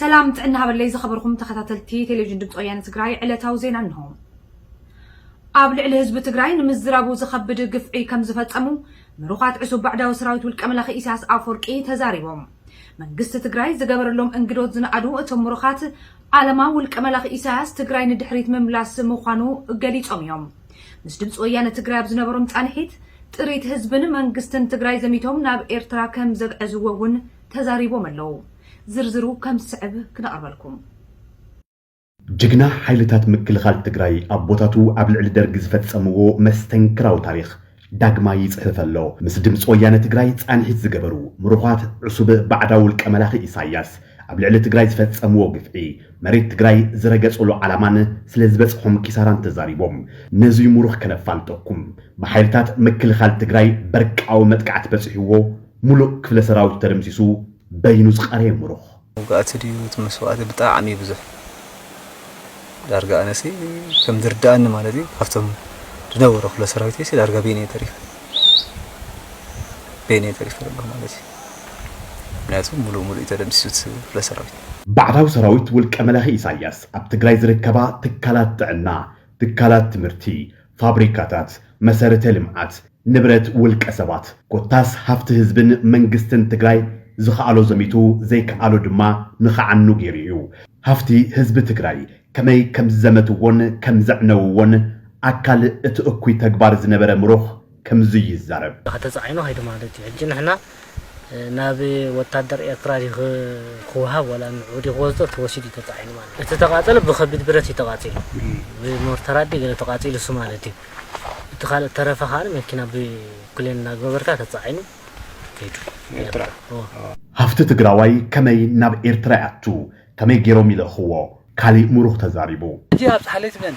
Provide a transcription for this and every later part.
ሰላም ጥዕና ሃበለይ ዝኸበርኹም ተኸታተልቲ ቴሌቪዥን ድምፂ ወያነ ትግራይ ዕለታዊ ዜና እንሆ። ኣብ ልዕሊ ህዝቢ ትግራይ ንምዝራቡ ዝኸብድ ግፍዒ ከም ዝፈፀሙ ምሩኻት ዕሱብ ባዕዳዊ ሰራዊት ውልቀ መላኺ ኢሳያስ ኣፈወርቂ ተዛሪቦም። መንግስቲ ትግራይ ዝገበረሎም እንግዶት ዝነኣዱ እቶም ምሩኻት ዓለማ ውልቀ መላኺ ኢሳያስ ትግራይ ንድሕሪት ምምላስ ምዃኑ ገሊፆም እዮም። ምስ ድምፂ ወያነ ትግራይ ኣብ ዝነበሮም ፃንሒት ጥሪት ህዝብን መንግስትን ትግራይ ዘሚቶም ናብ ኤርትራ ከም ዘግዐዝዎ እውን ተዛሪቦም ኣለዉ። ዝርዝሩ ከም ዝስዕብ ክነቕርበልኩም። ጅግና ሓይልታት ምክልኻል ትግራይ ኣቦታቱ ኣብ ልዕሊ ደርጊ ዝፈፀምዎ መስተንክራዊ ታሪኽ ዳግማይ ይፅህፍ ኣሎ። ምስ ድምፂ ወያነ ትግራይ ፃንሒት ዝገበሩ ምሩዃት ዕሱብ ባዕዳዊ ውልቀ መላኺ ኢሳያስ ኣብ ልዕሊ ትግራይ ዝፈፀምዎ ግፍዒ መሬት ትግራይ ዝረገፅሉ ዓላማን ስለ ዝበፅሖም ኪሳራን ተዛሪቦም። ነዙይ ምሩኽ ከነፋልጠኩም። ብሓይልታት ምክልኻል ትግራይ በርቃዊ መጥቃዕቲ በፂሕዎ ሙሉእ ክፍለ ሰራዊቱ ተደምሲሱ በይኑ ዝቀረየ ሙሩኽ። መውጋእቲ ድዩ እቲ መስዋእቲ ብጣዕሚ ብዙሕ ዳርጋ ኣነሲ ከም ዝርድኣኒ ማለት እዩ ካብቶም ዝነበሩ ክፍለ ሰራዊተይሲ ዳርጋ በይነይ ተሪፈ በይነይ ተሪፈ ዘለኹ ማለት እዩ ምክንያቱ ሙሉእ ሙሉእ ተደምሲሱት ክፍለ ሰራዊት ባዕዳዊ ሰራዊት ውልቀ መላኺ ኢሳያስ ኣብ ትግራይ ዝርከባ ትካላት ጥዕና፣ ትካላት ትምህርቲ፣ ፋብሪካታት፣ መሰረተ ልምዓት፣ ንብረት ውልቀ ሰባት ኮታስ ሃፍቲ ህዝብን መንግስትን ትግራይ ዝኸኣሎ ዘሚቱ ዘይከኣሎ ድማ ንኸዓኑ ገይሩ እዩ። ሃፍቲ ህዝቢ ትግራይ ከመይ ከምዝዘመትዎን ከምዘዕነውዎን ኣካል እቲ እኩይ ተግባር ዝነበረ ምሩኽ ከምዙይ ይዛረብ። ተፃዒኑ ከይዱ ማለት እዩ። ሕጂ ንሕና ናብ ወታደር ኤርትራ ድዩ ክወሃብ ዋላ ንዕኡ ድዩ ክወስዶ ተወሲዱ እዩ ተጻዒኑ ማለት እዩ። እቲ ተቓጸለ ብከቢድ ብረት እዩ ተቓጺሉ ብሞርተራት ድዩ ገለ ተቓጺሉ እሱ ማለት እዩ። እቲ ካልእ እተረፈ ከኣ መኪና ብፕሌን እናግበበርካ ተጻዒኑ ከይዱ ኤርትራ እወ። ሃፍቲ ትግራዋይ ከመይ ናብ ኤርትራ ይኣቱ ከመይ ጌሮም ይልእኽዎ ካሊእ ሙሩኽ ተዛሪቡ። ሕጂ ኣብጽሓለይ ትብለኒ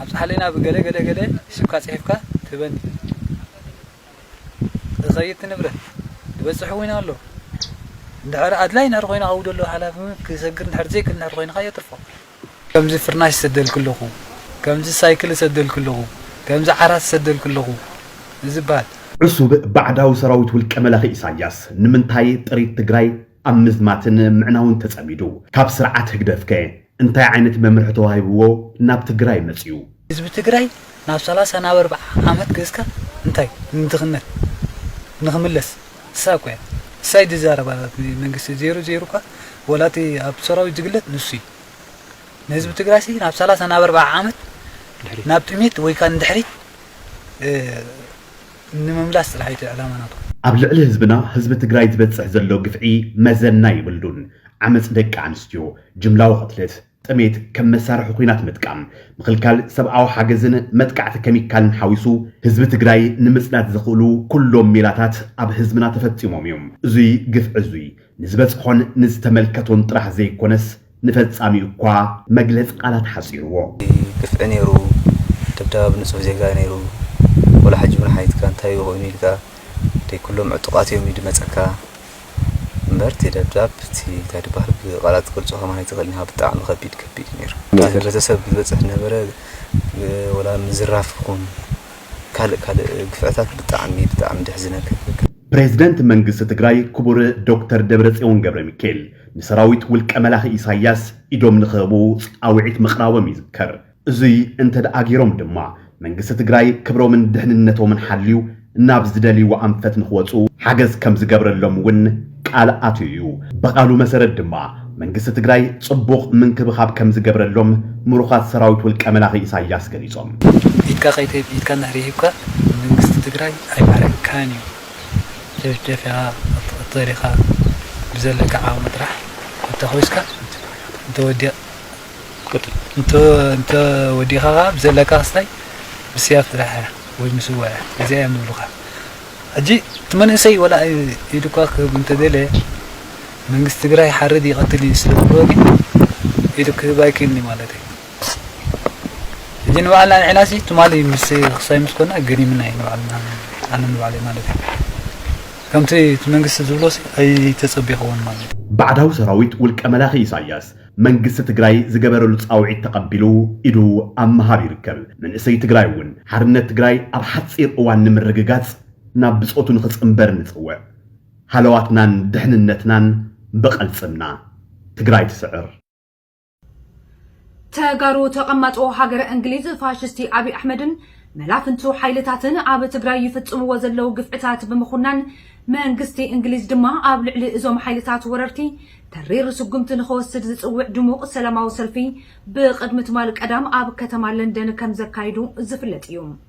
ኣብጽሓለይ ናብ ገለ ገለ ገለ ሒስብካ ጽሒፍካ ትህበኒ። እኸይ እቲ ንብረት ዝበጽሕ እውን ኣሎ እንድሕር ኣድላይ እንድሕር ኮይኑ ኣብኡ ዘሎ ሓላፊ ክሰግር እንድሕር ዘይክል እንድሕር ኮይኑ ከኣ የትርፎ። ከምዚ ፍርናሽ ዝሰደልኪ ኣለኹ፣ ከምዚ ሳይክል ዝሰደልኪ ኣለኹ፣ ከምዚ ዓራት ዝሰደልኪ ኣለኹ ንዝብሃል። ዕሱብ ባዕዳዊ ሰራዊት ውልቀ መላኺ ኢሳያስ ንምንታይ ጥሪት ትግራይ ኣብ ምዝማትን ምዕናውን ተጸሚዱ። ካብ ስርዓት ህግደፍከ እንታይ ዓይነት መምርሒ ተዋሂብዎ ናብ ትግራይ መጺኡ? ህዝቢ ትግራይ ናብ ሰላሳ ናብ ኣርብዓ ዓመት ገዝካ እንታይ ንድኽነት ንኽምለስ እሳ እኳ እያ እሳ እዩ ዝዛረብ ኣላት መንግስቲ ዜሩ ዜሩ እኳ ወላ እቲ ኣብ ሰራዊት ዝግለጽ ንሱ እዩ ንህዝቢ ትግራይሲ ናብ ሰላሳ ናብ ኣርብዓ ዓመት ናብ ጥሜት ወይካ ንድሕሪት ንምምላስ ጥራሕ ኢዩ እቲ ዕላማ ናትኩም። ኣብ ልዕሊ ህዝብና ህዝቢ ትግራይ ዝበፅሕ ዘሎ ግፍዒ መዘና የብሉን። ዓመፅ ደቂ ኣንስትዮ፣ ጅምላዊ ቕትለት፣ ጥሜት፣ ከም መሳርሒ ኹናት ምጥቃም፣ ምኽልካል ሰብኣዊ ሓገዝን መጥቃዕቲ ከሚካልን ሓዊሱ ህዝቢ ትግራይ ንምፅናት ዘኽእሉ ኩሎም ሜላታት ኣብ ህዝብና ተፈፂሞም እዮም። እዙይ ግፍዒ እዙይ ንዝበፅሖን ንዝተመልከቶን ጥራሕ ዘይኮነስ፣ ንፈጻሚኡ እኳ መግለጺ ቃላት ሓጺርዎ። ግፍዒ ነይሩ ድብዳብ ኣብ ንጹህ ዜጋ ነይሩ ወላ ሕጂ ውን ሓይትካ እንታይ እዩ ኮይኑ ኢልካ ደይ ኩሎም ዕጡቃት እዮም ይድመጸካ እምበር እቲ ደብዳብ እቲ እንታይ ድባሃል ብቃላት ትገልጾ ከማን ኣይትክእልን ኢካ ብጣዕሚ ከቢድ ከቢድ እዩ ነይሩ ኣብ ሕብረተሰብ ዝበጽሕ ነበረ ወላ ምዝራፍ ይኩን ካልእ ካልእ ግፍዕታት ብጣዕሚ ብጣዕሚ ደሕዝነካ ፕረዚደንት መንግስቲ ትግራይ ክቡር ዶክተር ደብረጽዮን ገብረሚካኤል ንሰራዊት ውልቀ መላኺ ኢሳያስ ኢዶም ንኽህቡ ጻውዒት ምቕራቦም ይዝከር። እዙይ እንተድኣ ገይሮም ድማ መንግስቲ ትግራይ ክብሮምን ድሕንነቶምን ሓልዩ ናብ ዝደልይዎ ኣንፈት ንኽወፁ ሓገዝ ከምዝገብረሎም እውን ቃል ኣትዩ እዩ። ብቓሉ መሰረት ድማ መንግስቲ ትግራይ ፅቡቕ ምንክብኻብ ከምዝገብረሎም ምሩኻት ሰራዊት ውልቀ መላኺ ኢሳያስ ገሊፆም። ኢድካ ከይትህብ ኢድካ እንድሕር ሂብካ መንግስቲ ትግራይ ኣይባርኸካን እዩ። ጨፍጨፊኻ ክትቕተል ኢኻ ብዘለካ ዓቕሚ ጥራሕ እንተኾይስካ እንተወዲቕ እንተወዲእኻ ከኣ ብዘለካ ክስታይ ብስያፍ ጥራሕ እያ ወይ ምስዋእ እያ እዚኣ እዮም ዝብሉኻ ሕጂ እቲ መንእሰይ ወላ ኢዱ እኳ ክህብ እንተደለየ መንግስቲ ትግራይ ይሓርድ ይቐትል እዩ ስለ ዝበልዎ ግን ኢዱ ክህብ ኣይክእልን እዩ ማለት እዩ ሕጂ ንባዕልና ንዒናሲ ትማሊ ምስ ክሳይ ምስ ኮና ገሪምና እዩ ንባዕልና ኣነ ንባዕለይ ማለት እዩ ከምቲ እቲ መንግስቲ ዝብሎሲ ኣይተጸቢኽዎን ማለት እዩ ባዕዳዊ ሰራዊት ውልቀ መላኺ ኢሳያስ መንግስቲ ትግራይ ዝገበረሉ ፃውዒት ተቐቢሉ ኢዱ ኣብ ምሃብ ይርከብ። መንእሰይ ትግራይ እውን ሓርነት ትግራይ ኣብ ሓፂር እዋን ንምርግጋፅ ናብ ብፆቱ ንኽፅምበር ንፅውዕ። ሃለዋትናን ድሕንነትናን ብቐልፅምና! ትግራይ ትስዕር! ተጋሩ ተቐማጦ ሃገረ እንግሊዝ ፋሽስቲ ኣብይ ኣሕመድን መላፍንቱ ሓይልታትን ኣብ ትግራይ ይፍጽምዎ ዘለዉ ግፍዕታት ብምኹናን መንግስቲ እንግሊዝ ድማ ኣብ ልዕሊ እዞም ሓይልታት ወረርቲ ተሪር ስጉምቲ ንኸወስድ ዝጽውዕ ድሙቕ ሰላማዊ ሰልፊ ብቕድሚ ትማል ቀዳም ኣብ ከተማ ለንደን ከምዘካይዱ ዝፍለጥ እዩ።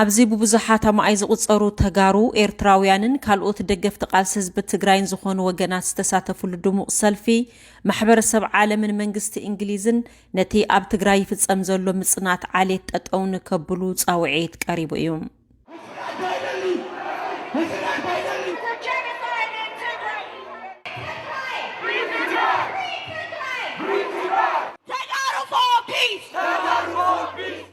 ኣብዚ ብብዙሓት ኣማኣይ ዝቑፀሩ ተጋሩ፣ ኤርትራውያንን ካልኦት ደገፍቲ ቃልሲ ህዝቢ ትግራይን ዝኾኑ ወገናት ዝተሳተፍሉ ድሙቕ ሰልፊ፣ ማሕበረሰብ ዓለምን መንግስቲ እንግሊዝን ነቲ ኣብ ትግራይ ይፍፀም ዘሎ ምፅናት ዓሌት ጠጠው ንከብሉ ፃውዒት ቀሪቡ እዩ። Peace! Peace!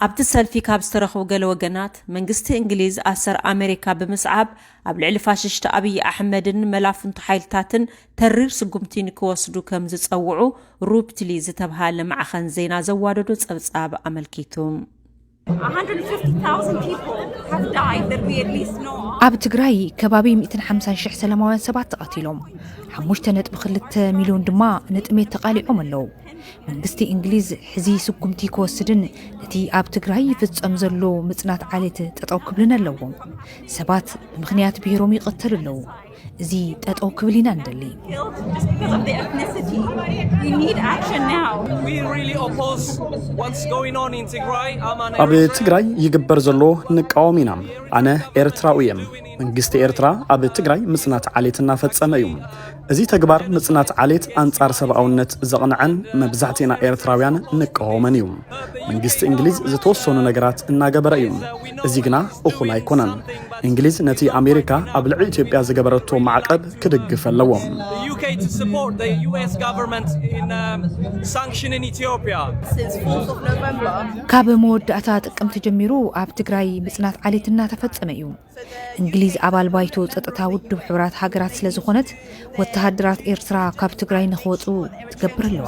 ኣብቲ ሰልፊ ካብ ዝተረኽቡ ገለ ወገናት መንግስቲ እንግሊዝ ኣሰር ኣሜሪካ ብምስዓብ ኣብ ልዕሊ ፋሽሽቲ ኣብዪ ኣሕመድን መላፍንቱ ሓይልታትን ተሪር ስጉምቲ ንክወስዱ ከም ዝፀውዑ ሩፕትሊ ዝተብሃለ ማዕኸን ዜና ዘዋደዶ ፀብፃብ ኣመልኪቱ። ኣብ ትግራይ ከባቢ ሚእትን ሓምሳን ሽሕ ሰላማውያን ሰባት ተቐቲሎም፣ ሓሙሽተ ነጥቢ ክልተ ሚልዮን ድማ ንጥሜት ተቓሊዖም ኣለዉ። መንግስቲ እንግሊዝ ሕዚ ስጉምቲ ክወስድን ነቲ ኣብ ትግራይ ይፍጸም ዘሎ ምጽናት ዓሌት ጠጠው ክብልን ኣለዎም። ሰባት ብምኽንያት ብሄሮም ይቕተሉ ኣለዉ። እዚ ጠጠው ክብል ኢና ንደሊ። ኣብ ትግራይ ይግበር ዘሎ ንቃወም ኢና። ኣነ ኤርትራዊ እየ። መንግስቲ ኤርትራ ኣብ ትግራይ ምጽናት ዓሌት እናፈጸመ እዩ። እዚ ተግባር ምጽናት ዓሌት ኣንጻር ሰብኣውነት ዘቕንዐን መብዛሕትእና ኤርትራውያን ንቃወመን እዩ። መንግስቲ እንግሊዝ ዝተወሰኑ ነገራት እናገበረ እዩ። እዚ ግና እኹል ኣይኮነን። እንግሊዝ ነቲ ኣሜሪካ ኣብ ልዕሊ ኢትዮጵያ ዝገበረቶ ማዕቀብ ክድግፍ ኣለዎ። ካብ መወዳእታ ጥቅምቲ ጀሚሩ ኣብ ትግራይ ምፅናት ዓሌት እናተፈፀመ እዩ። እንግሊዝ ኣባል ባይቶ ፀጥታ ውድብ ሕብራት ሃገራት ስለ ዝኾነት ወተሃደራት ኤርትራ ካብ ትግራይ ንክወፁ ትገብር ኣለዋ።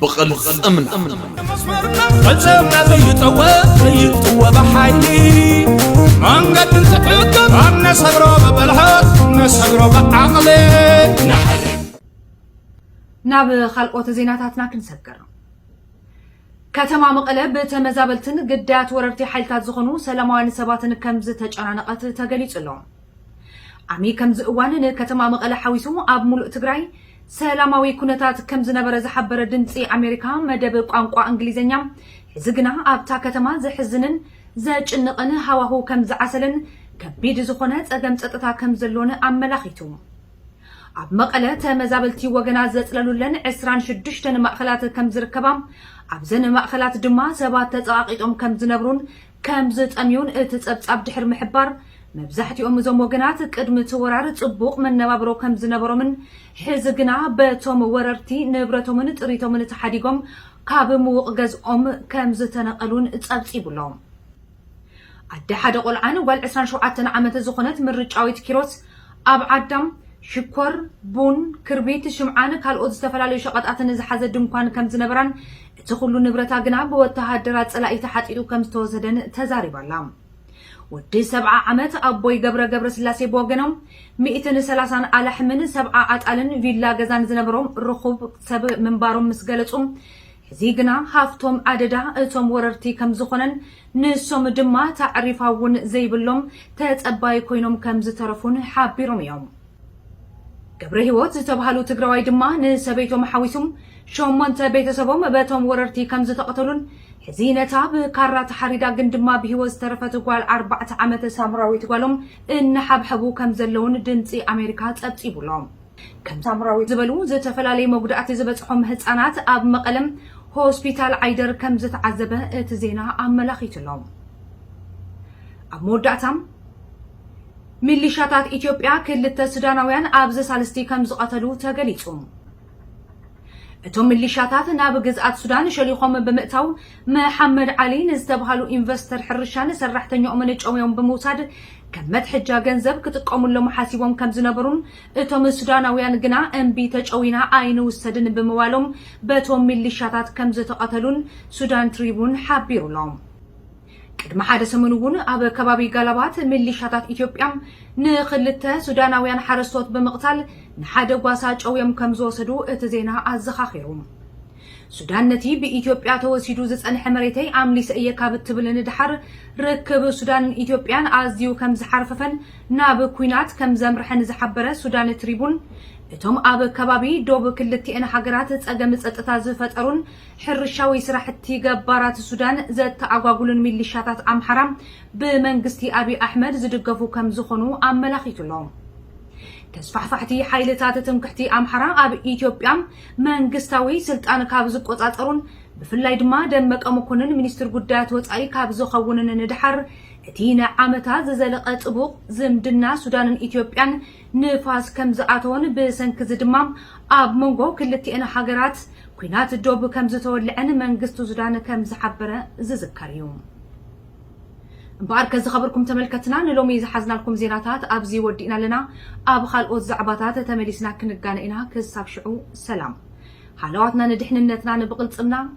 ብቕልፅምና ፈፀምና ዘይጠወ ዘይጥወ ብሓይሊ መንገዲ ዝሕግር ኣብ ነሰግሮ ብብልሓት ነሰግሮ ብዓቕሊ ናብ ካልኦት ዜናታትና ክንሰግር ከተማ መቐለ ብተመዛበልትን ግዳያት ወረርቲ ሓይልታት ዝኾኑ ሰላማውያን ሰባትን ከምዝተጨናነቐት ተገሊጹ ኣሎ። ዓሚ ከምዚ እዋን ንከተማ መቐለ ሓዊሱ ኣብ ሙሉእ ትግራይ ሰላማዊ ኩነታት ከምዝነበረ ዝሓበረ ድምጺ ኣሜሪካ መደብ ቋንቋ እንግሊዘኛ ሕዚ ግና ኣብታ ከተማ ዘሕዝንን ዘጭንቕን ሃዋሁ ከምዝዓሰለን ከቢድ ዝኾነ ፀገም ፀጥታ ከምዘሎን ኣመላኺቱ። ኣብ መቐለ ተመዛበልቲ ወገናት ዘፅለሉለን ዕስራን ሽዱሽተን ማእኸላት ከምዝርከባ ኣብዘን ማእኸላት ድማ ሰባት ተፀቓቒጦም ከምዝነብሩን ከም ዝጠምዩን እቲ ጸብጻብ ድሕሪ ምሕባር፣ መብዛሕትኦም እዞም ወገናት ቅድሚ እቲ ወራር ጽቡቕ መነባብሮ ከም ዝነበሮምን ሕዚ ግና በቶም ወረርቲ ንብረቶምን ጥሪቶምን ተሓዲጎም ካብ ምዉቕ ገዝኦም ከም ዝተነቐሉን ጸብጺቡ ኣሎ። ኣደ ሓደ ቆልዓን ጓል ዕስራን ሸውዓተን ዓመት ዝኾነት ምርጫዊት ኪሮስ፣ ኣብ ዓዳ፣ ሽኮር፣ ቡን፣ ክርቢት፣ ሽምዓን ካልኦት ዝተፈላለዩ ሸቐጣትን ዝሓዘ ድንኳን ከም ዝነበራን እቲ ኹሉ ንብረታ ግና ብወተሃደራት ጸላኢ ተሓጢጡ ከም ዝተወሰደን ተዛሪባ ኣላ። ወዲ ሰብዓ ዓመት ኣቦይ ገብረ ገብረስላሴ ብወገኖም፣ ሚእትን ሰላሳን ኣላሕምን ሰብዓ ኣጣልን ቪላ ገዛን ዝነበሮም ርኹብ ሰብ ምንባሮም ምስ ገለጹ፣ ሕዚ ግና ሃፍቶም ኣደዳ እቶም ወረርቲ ከም ዝኾነን ንሶም ድማ ታዕሪፋ'ውን ዘይብሎም ተጸባዪ ኮይኖም ከም ዝተረፉን ሓቢሮም እዮም። ገብረሂወት ዝተብሃሉ ትግራዋይ ድማ ንሰበይቶም ሓዊሱ ሸሞንተ ቤተሰቦም በቶም ወረርቲ ከምዝተቐተሉን ሕዚ ነታ ብካራ ተሓሪዳ ግን ድማ ብሂወት ዝተረፈት ጓል ኣርባዕተ ዓመት ሳምራዊት ጓሎም እናሓብሐቡ ከምዘለዉን ድምጺ ኣሜሪካ ጸብጺቡ ኣሎ። ከም ሳምራዊት ዝበሉ ዝተፈላለየ መጉዳእቲ ዝበጽሖም ህጻናት ኣብ መቐለ ሆስፒታል ዓይደር ከምዝተዓዘበ እቲ ዜና ኣመላኺቱ ኣሎ። ኣብ መወዳእታ ሚሊሻታት ኢትዮጵያ ክልተ ሱዳናውያን ኣብ ዘሳልስቲ ከምዝቐተሉ ተገሊጹ። እቶም ሚሊሻታት ናብ ግዝኣት ሱዳን ሸሊኾም ብምእታው መሓመድ ዓሊ ንዝተብሃሉ ኢንቨስተር ሕርሻን ሰራሕተኛኦምን ጨውዮም ብምውሳድ ከም መትሐጃ ገንዘብ ክጥቀሙሎም ሓሲቦም ከምዝነበሩን እቶም ሱዳናውያን ግና እምቢ ተጨዊና ኣይንውሰድን ብምባሎም በቶም ሚሊሻታት ከምዝተቐተሉን ሱዳን ትሪቡን ሓቢሩ'ሎ። ቅድሚ ሓደ ሰሙን እውን ኣብ ከባቢ ጋላባት ሚሊሻታት ኢትዮጵያ ንኽልተ ሱዳናውያን ሓረስቶት ብምቕታል ንሓደ ጓሳ ጨውዮም ከምዝወሰዱ እቲ ዜና ኣዘኻኺሩ። ሱዳን ነቲ ብኢትዮጵያ ተወሲዱ ዝጸንሐ መሬተይ ኣምሊሰ እየ ካብ እትብል ንደሓር ርክብ ሱዳንን ኢትዮጵያን ኣዝዩ ከምዝሓርፈፈን ናብ ኲናት ከምዘምርሐን ዝሓበረ ሱዳን ትሪቡን እቶም ኣብ ከባቢ ዶብ ክልቲኤን ሃገራት ጸገም ጸጥታ ዝፈጠሩን ሕርሻዊ ስራሕቲ ገባራት ሱዳን ዘተኣጓጉሉን ሚሊሻታት ኣምሓራ ብመንግስቲ ኣብይ ኣሕመድ ዝድገፉ ከምዝኾኑ ኣመላኺቱ'ሎ። ተስፋሕፋሕቲ ሓይልታት ትምክሕቲ ኣምሓራ ኣብ ኢትዮጵያ መንግስታዊ ስልጣን ካብ ዝቆፃፀሩን ብፍላይ ድማ ደመቀ መኮንን ሚኒስትር ጉዳያት ወፃኢ ካብ ዝኸውንን ንደሓር እቲ ንዓመታት ዝዘለቐ ጥቡቕ ዝምድና ሱዳንን ኢትዮጵያን ንፋስ ከምዝኣተወን ብሰንኪ'ዚ ድማ ኣብ መንጎ ክልቲኤን ሃገራት ኲናት ዶብ ከምዝተወልዐን መንግስቲ ሱዳን ከምዝሓበረ ዝዝከር እዩ። እምበኣርከ ዝኸበርኩም ተመልከትና ንሎሚ ዝሓዝናልኩም ዜናታት ኣብዚ ወዲእና ኣለና። ኣብ ኻልኦት ዛዕባታት ተመሊስና ክንጋነ ኢና ክሳብ ሽዑ ሰላም። ሃለዋትና ንድሕንነትና ንብቕልጽምና።